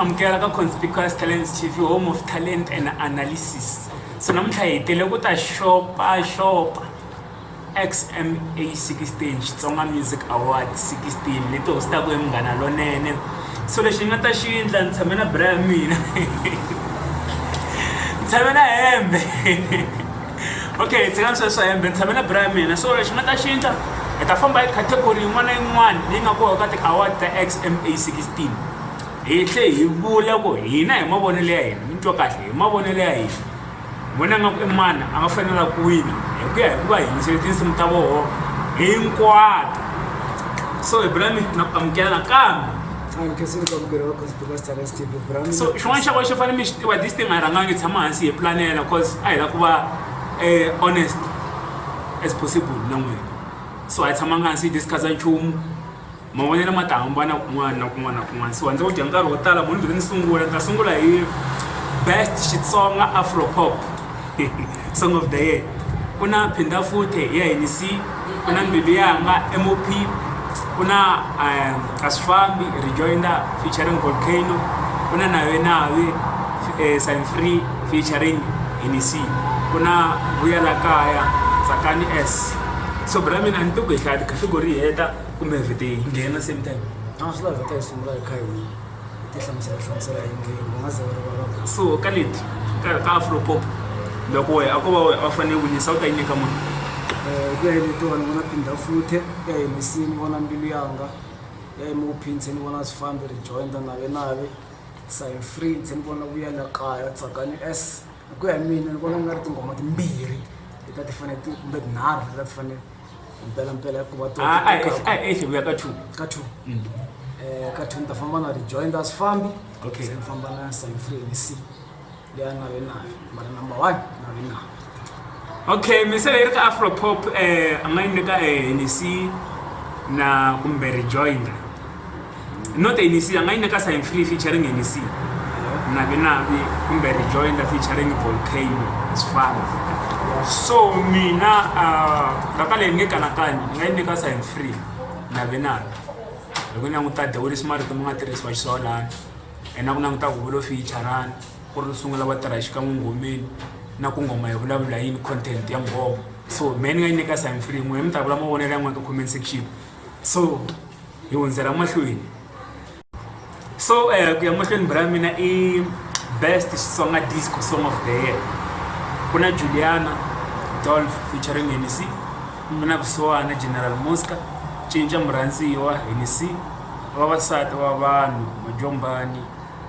amukela ka conspicuous talent tv home of talent and analysis so namuntlha hi tele ku ta xopaxopa xma 16 xitsonga music award 16 leti hostaka hi munghana lonene so lexi ni nga ta xi endla ni tshame na bra ya mina ni tshame na hembe okay hi tshika sweswo hembe ni tshame na bra ya mina so lexi nga ta xi endla hi ta famba hi category yin'wana na yin'wana leyi nga koho ka ti-award ta xma sixteen hi tlhe hi vula ku hina hi mavonelo ya hina mi twa kahle hi mavonelo ya hina hi vona nga ku i mani a nga fanela ku wina hi ku ya hi ku va yingisele tinsimu ta voho hinkwato so hi bula mi na ku amukela nakambe so xin'wana xa ko xi fanele mi xi tiva this thing a hi rhangangi tshama hansi hi planela cause a hi la ku va eh, honest as possible na n'wina so a hi tshamanga hansi hi discussa nchumu Mavonelo ma ta hambana kun'wana na kun'wana na kun'wana so a ndzi wu dya nkarhi wo tala munhu byi ri ni sungula ni ta sungula hi best xitsonga afropop song of the year ku na phinda futhe hi ya hi ni si ku na mbilu yanga mop ku na um a swi fambi rejoinder featuring volcano ku na nawe nawe um sign free featuring hi ni si ku na vuyela kaya tsakani s so bra mina a ni ti ku hi hlaya tikhategori hi heta kumbe vhete hi nghena same time a swi lava vhete hi sungula hi kha hi ti hlamusela hlamusela hi ngheni va nga ze va rivala so ka leti ka ka afropop loko wehe a ko va wehe a fanele winisa u ta yi nyika mani ku ya hi vito vanhu vona phinda futhe ku ya hi misini vona mbilu yanga ku ya hi mophinse ni vona swifambi ri jointa nave nave sign free ndzi ni vona vuya la kaya tsakani s hi ku ya hi mina ni vona ku nga ri tinghoma timbirhi leta ti fanele ti kumbe tinharhu leta ti fanele mpela mpela ku va ah, ah, eh, ah, eh, vuya ka two ka two mm. eh, ka two ni ta famba na rejoinda swifambi se ni famba na sainfree ni c leya na ve nayo mara number one na ve nayo okay misele yi ri ka afropop um a nga yi nyika um ni c na kumbe rejoinda not anc yanga yi nyika sign free featuring anc navi navi kumbe rejoinder featuring volcano sifana so mina vaka uh, leyi nge kanakanyi yi nga yi nyika sign free navi navi hi ku languta dewurisi marito ma nga tirhisiwa xisolani and na ku languta huvulo featurani ku ri sungula va tirha xikan'we ngomeni na ku ngoma hi vulavula yini content ya ngoma so me ni nga yi nyika sign free n'we mi ta vula mavonelo yan'wana ka comment section so hi hundzela mahlweni so eh, ku ya mahlweni bra mina i best xitsonga disco song of the year ku na juliana dolf featuring henisi ku na kusuwana general mosca cinca murhandziwa henisi vavasati va vanhu majombani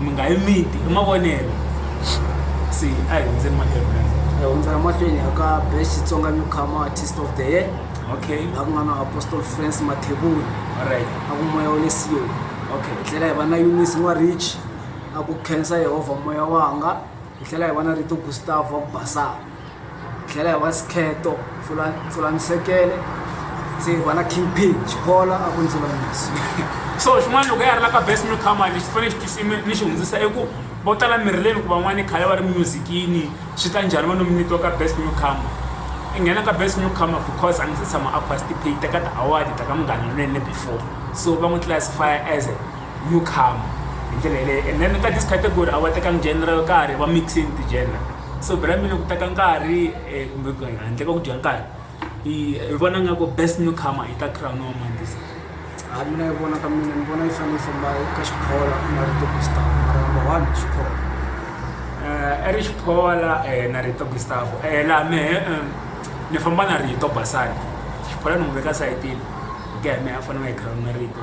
mi nga yi miti i mavonelo se a hi hundzeni mahlweni guys hi hundza emahlweni ya ka best xitsonga newcomer artist of the year okay laha ku nga na apostle france mathebula alright a ku moya wa le siyoni okay hi tlhela hi va na eunice n'warich a ku khensa yehovha moya wanga hi tlhela hi va na rito gustavo wa ku basaka tlhela hi wa skheto pfula pfula nsekele se hi vona king pin xikolo a ku ndzulamiso so xin'wana loko ya ri la ka best newcomer lexi fanele xi tisime ni xi hundzisa i ku vo tala mirileni ku van'wana khale va ri musicini swi ta njhani va nominatiwa ka best newcomer i nghena ka best newcomer because a ndzi se tshama a participate ka ti-award ta ka munghana lonene before so va n'wi classify as a newcomer hi ndlela yeleyo and then ka this category a va tekangi general ka ha ri va mixing ti-general so brand mina ku teka nkarhi eh, kumbe ku handle ka ku dya nkarhi i vona nga ku best new comer i ta crown wa mandisa a mina yi vona ka mina ni vona yi fanele yi famba ka xiphola ku nga ri tokistar mara number one xiphola eh, eri xiphola eh, na rito gustavo la mehe ni famba na rito basani xiphola ni n'wi veka sayitini ku ya mehe a fanele a yi crown na rito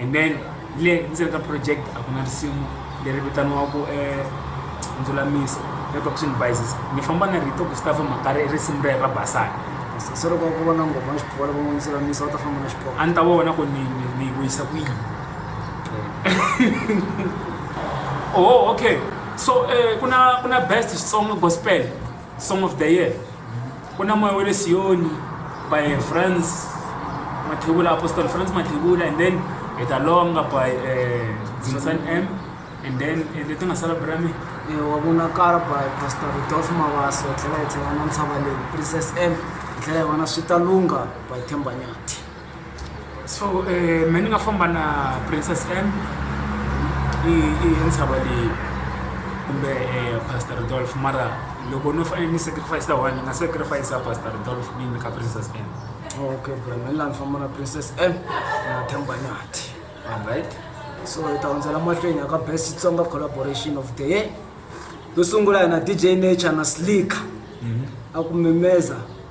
and then le ndzeni ka project a ku na risimu leri vitaniwaku um eh, ndzulamisa reduction bises ni famba na rito gustav makari i risimu rero ra basana se loko ku vona ngoma ya xipola va n'wi ndzulamisa va ta famba na xipola a ni ta vona ku ni ni wisa ku yini oh okay so um ku na ku na best xitsonga gospel Song of the Year, Ku na moya wa le Siyoni by Franz Mathebula, Apostle Franz Mathebula, and then Eta Longa by uh, Zimbasan M, and then uh, leti nga sala brame Eh, wa vonakala by pastor rudolf mavasa hi tlhela hi tlhela na ntshava leyi princess m hi tlhela hi vona swi ta lungha by themba nyati so um me ni nga famba na princess m i i i ntshava leyi kumbe um pastor dolf mara loko no fanele ni sacrifice one ni nga sacrifice a pastor dolf ni nyika princess m okay bra me ni la ni famba na princess m na themba nyati alright so hi ta hundzela mahlweni ya ka best xitsonga collaboration of the year yo sungula yena dj nature na slicker a ku mimeza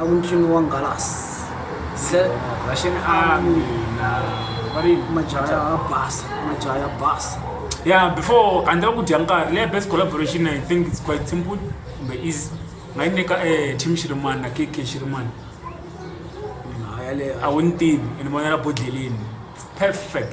emuntini wa Ngalasi. Ze Russian army na vari majaha ya basa majaha ya basa yeah before handle ku dya nkarhi leya best collaboration i think it's quite simple kumbe easy nga yi nyika e eh, team xirimani na kk xirimani a wu ni tivi ene vonela bodleleni perfect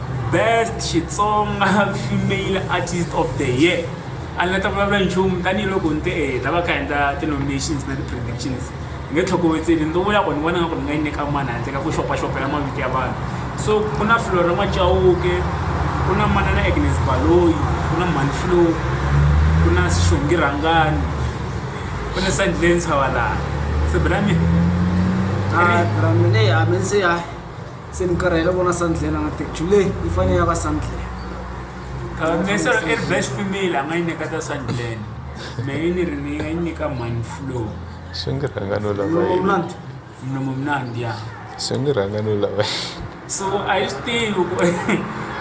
Best Xitsonga Female Artist of the Year a ni nga ta vulavula nchumu tanihiloko ni te e ta va ka endla ti-nominations na ti-predictions ni nge tlhokovetseli ni to vula ku ni vona nga ku ni nga yi nyika mani handle ka ku xopaxopela mavito ya vanhu so ku na flora macawuke ku na manana agnes baloyi ku na manflo ku na xongi rhangani ku na sandile ntshavalana sebelami Dramini, Dramini, Amensia. Se ni karhele vona sandlela nga tekchu leyi yi fanele ya va sandlela mesero i ri best female a nga yi nyika ta sandleni me yi ni ri ni nga yi nyika man flow swi nge rhanga no lava mnandi mlomo mnandi ya swi nge rhanga no lava so a yi swi tivi ku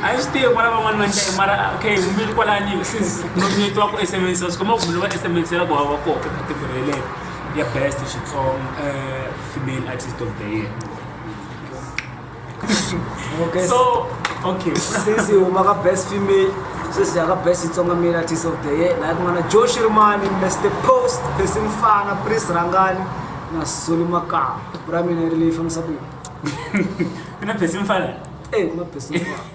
a yi swi tivi kwala van'wani va ndlayi mara okay mumeli kwalani since nomyeti wa ku esemensela swi komba ku mumeli va esemensela ku hava koho ekategori yeleyo ya best xitsonga eh, female artist of the year so okay sisi huma ka best female sisi ya ka best itsonga male artist of the year naye kun'wana joe shirmani mr post besi mfana pris rangani na soli makama ku ra mina ri leyi fambisa ku yini mina besi mfana e eh, ku na besi mfana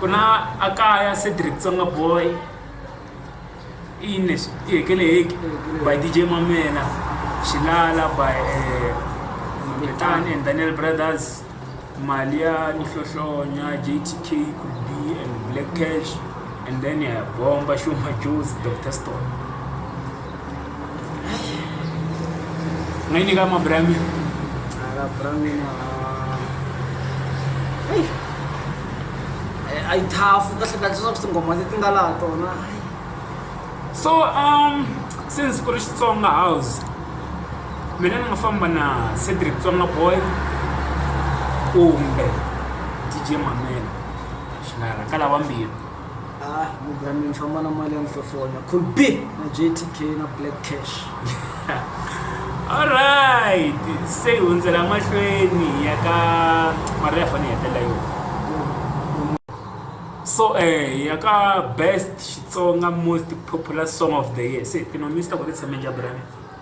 ku na a kaya Cedric Tsonga boy i yini lexi i hekeleheki by DJ Mamela Xilala by eh, Mambetani and Daniel Brothers mali ya nhlohlonya JTK could be and Black Cash and then ya bomba Shuma Joes Dr Stone Ngaini kama Brami? Ala Brami na Hey. Eh, Ai thafu kahle kahle swa tingoma leti nga laha tona. So um since ku ri Xitsonga house mina ni nga famba na Cedric Tsonga Boy kumbe DJ Mamela Xinara ka lava mbirhi. ah mugramin famba na mali ya nhlohlonya cool b na jtk na black cash alright se hi hundzela mahlweni ya ka mali ya fane yi hetelela yo so eh ya ka best xitsonga most popular song of the year se tinonisa ku ri tshame njhaburani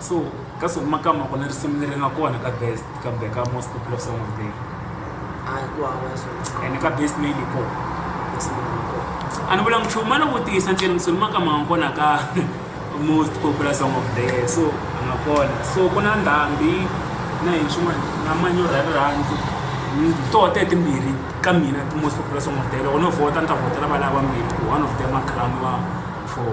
so ka siku makama ku na risimu leri nga kona ka best kambe ka most popular song of the day and ka best male ko a ni vula nchumu a no vutisa ntsena misoni makama nga kona ka most popular song of the year so a nga kona so ku na ndhambi na hi swin'wana na manyoro ya rirhandzu toho te timbirhi ka mina ti-most popular song of the year loko no vhota ni ta vhotela valava vambirhi one of them a cramiwa for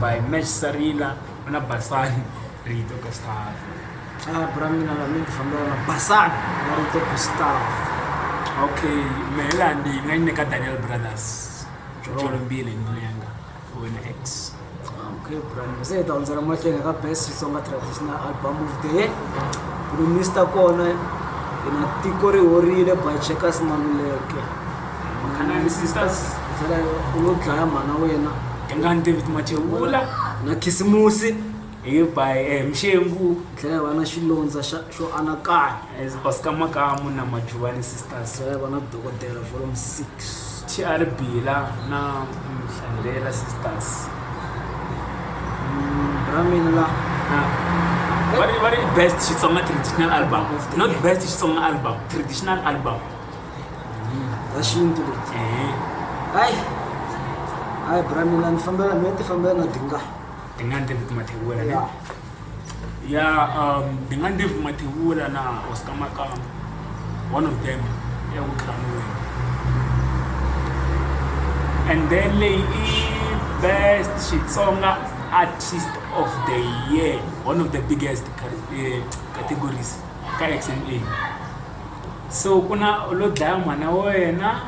by match sarina na basani rito ka staff ah bra mina na mina fambela na basani na rito ka staff okay mehela ndi nga ni ka Daniel Brothers jolo mbili ni lenga wena ex okay bra ni se ta unzela mahlweni ka best Xitsonga traditional album of the year ku mista kona ina tiko ri horile by Checkers Maluleke Makhana and sisters byela u lo dlaya mhana wena Dingani David Machewula na khisimusi hi by eh, Mxengu dlaya vana xilondza xa- xo anakanya as Oscar Makamu na Majuvani sisters dlaya vana dokodela volume 6 TR Bila na Mhlandelela sisters ra mina la Ah. What is, what is best Xitsonga traditional album? Not best Xitsonga album, traditional album. za xintu leti hayi hayi bra mina ni fambela me ti fambela na dinga dinga ndzi ti mathewula ne ya um dinga ndzi ti mathewula na oscar makama one of them ya ku tlhamiwe and then leyi i best xitsonga artist of the year one of the biggest eh, categories ka xma so ku na u lo dlaya mhana wa wena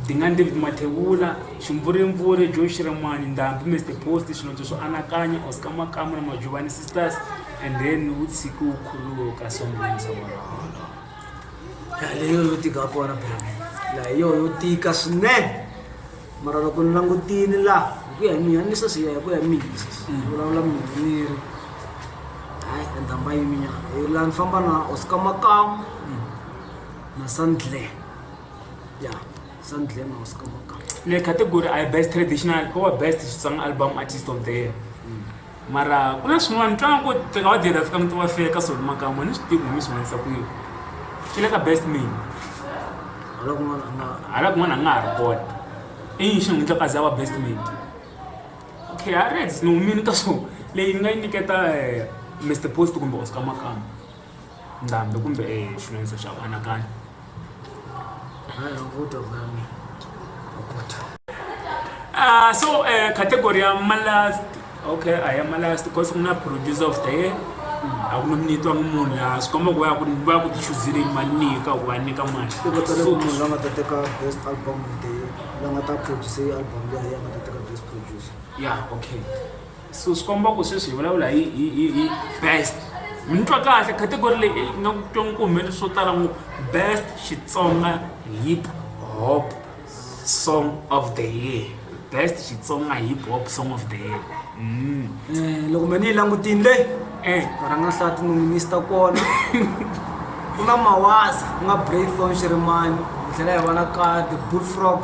dingani david mathevula ximvurimpfuri jo xirimani ndhambi mr post swinondzo swo anakanya oscar makamu na majuvani sisters and then wu tshiki wu khuluka sombonisa wona leyo yo tika kona bra laha yo yo tika swinene mara loko ni langutile laha hi ku ya hi mina ni se siya hi ku ya hi mina ni vulavula mina ni ri hayi endhamba yiminyana hi laha ni famba na oscar makamu na sandler ya sandler na oscar makamu le category i best traditional or best xitsonga album artist of the year Mara ku na swin'wana ni twa nga ku teka wa dyela fika muti wa feka so ni makama ni swi tivi ku ni swi vanisa ku yini swi le ka best me hala kun'wana a nga hala kun'wana a nga ha ri kona i yini xi n'wi endlaka za wa best me okay a reds ni humini ka swona leyi ni nga yi nyiketa Mister post kumbe Oscar makama. nqambi kumbe xilondzo xa ku anakanya Uh, so uh, category ya malast okay a ya malast because ku na producer of the year a ku nominatiwa ni munhu laha swi komba ku va ya ku va ya ku tichuzile mali nyika ku va nyika mali se va tsale ku munhu la nga ta teka best album of the year la nga ta produce album leyi a nga ta teka best producer ya okay So swi komba ku sweswi hi vulavula hi hi hi hi best mi ni twa kahle category leyi eyi nga twa ku humelele swo tala ngo best xitsonga hip hop song of the year best xitsonga hip hop song of the year mm. Eh, loko mina yi langutini leyi eh. rhanga hlati nominista kona ku na mawasa ku nga braython xirimani hi tlhela hi va na ka the bullfrog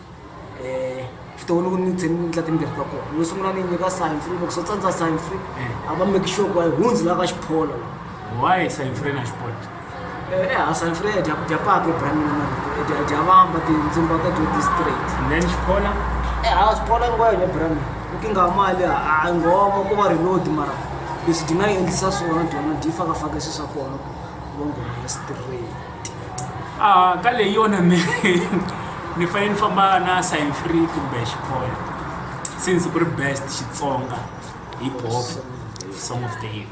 eh vutomi loko ni tsheni ni ndla timbirhi ta kona yo sungula ni nyika sign free loko so tsandza sign free a va make sure ku a yi hundzi la ka xiphola la why sign free na xiphola Eh, eha sign free ya dya dya paka ebramini na ya dya- ya dya vamba tindzumba ta dyo district and then xiphola eha xiphola ngo ya ebramini ukinga mali a ngoma ku va reload mara leswi dyi nga yi endlisa swona dyona dyi fakafaka swi swa kona ku va ngoma ya straight a ka leyi yona ni ni fanele ni famba na sign free kumbe xikolo since ku ri best xitsonga hi bof song of the year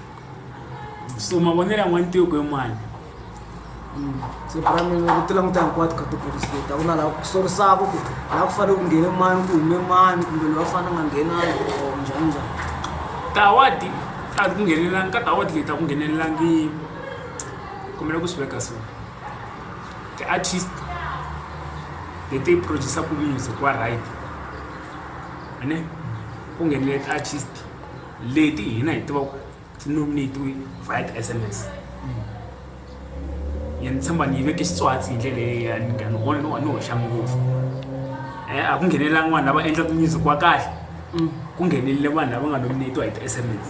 so mavonelo ya n'wantioko hi mani siku ra mina ku ti languta hinkwato ka tipholisi leti a ku na laha ku sorisaka ku laha ku fanele ku nghene mani ku hume mani kumbe loyi a fanele a nga nghenangi or njhani njhani tawadi a ku nghenelelanga ka tawadi leti a ku nghenelelangini kombela ku swi veka so ti-artist leti producer-ku music wa right ene ku nghenile ti-artist leti hina hi tiva ku ti nominatiwe via ti-sms ya ni tshemba ni yi veke xitswatsi hi ndlela leya ni nga ni vona ni wa ni hoxa ngopfu um a ku nghenelelanga vanhu lava endlaka music wa kahle ku nghenelele vanhu lava nga nominatiwa hi ti-sms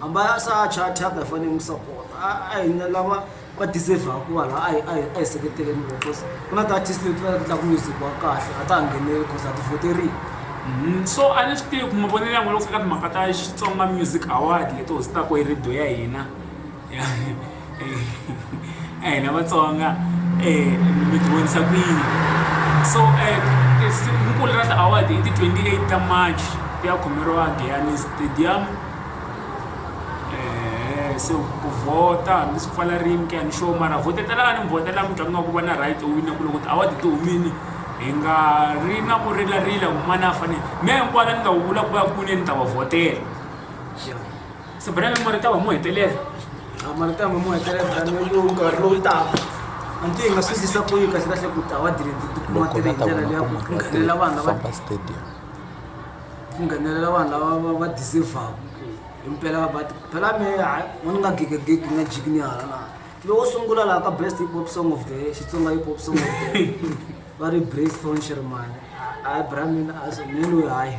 A mba ya sa thyaka thyaka hi fanele hi n'wi sapota a a hi na lava va deserve-aka ku va laha a hi a hi a hi seketeleni vona coz ku na ti-artist leti va endlaka music wa kahle a ta ha ngheneli coz a ti voteriwi Mhm. so a ni swi tivi ku mavonelo yan'we loko fika timhaka ta xitsonga music award leti hostaka hi radio ya hina hina vatsonga mi ti vonisa ku yini so rikulu ra ti-award i ti-twenty eight ta march ti ya khomeriwa giyani stadium se ku vhota hambi swi pfala rini ku ya ni xona mara vhotetelani mi vhotela mutlangi wa ku va na right u wina ku loko ti-award ti humile hi nga ri na ku rilarila ku manana a fanele mi ya hinkwayo la ni nga wu vula ku va kwini ni ta va vhotela. Sabrina mi marita wa mo hetelela. A marita wa mo hetelela brand new yo ka lo ta. Anti nga sisi sa ko yi ka sira se ku ta wa dire ti ku ma tele ndlela ya ku nghenela vanhu va ba stadium. Ku nghenela vanhu lava va deserve impela va ti phela me ha mo nga gege gege nga jigni hala na. Lo sungula la ka best hip hop song of the year, Xitsonga hip hop song of the year. Va ri Brace Thorn Sherman. Hayi brand new a so menu hayi.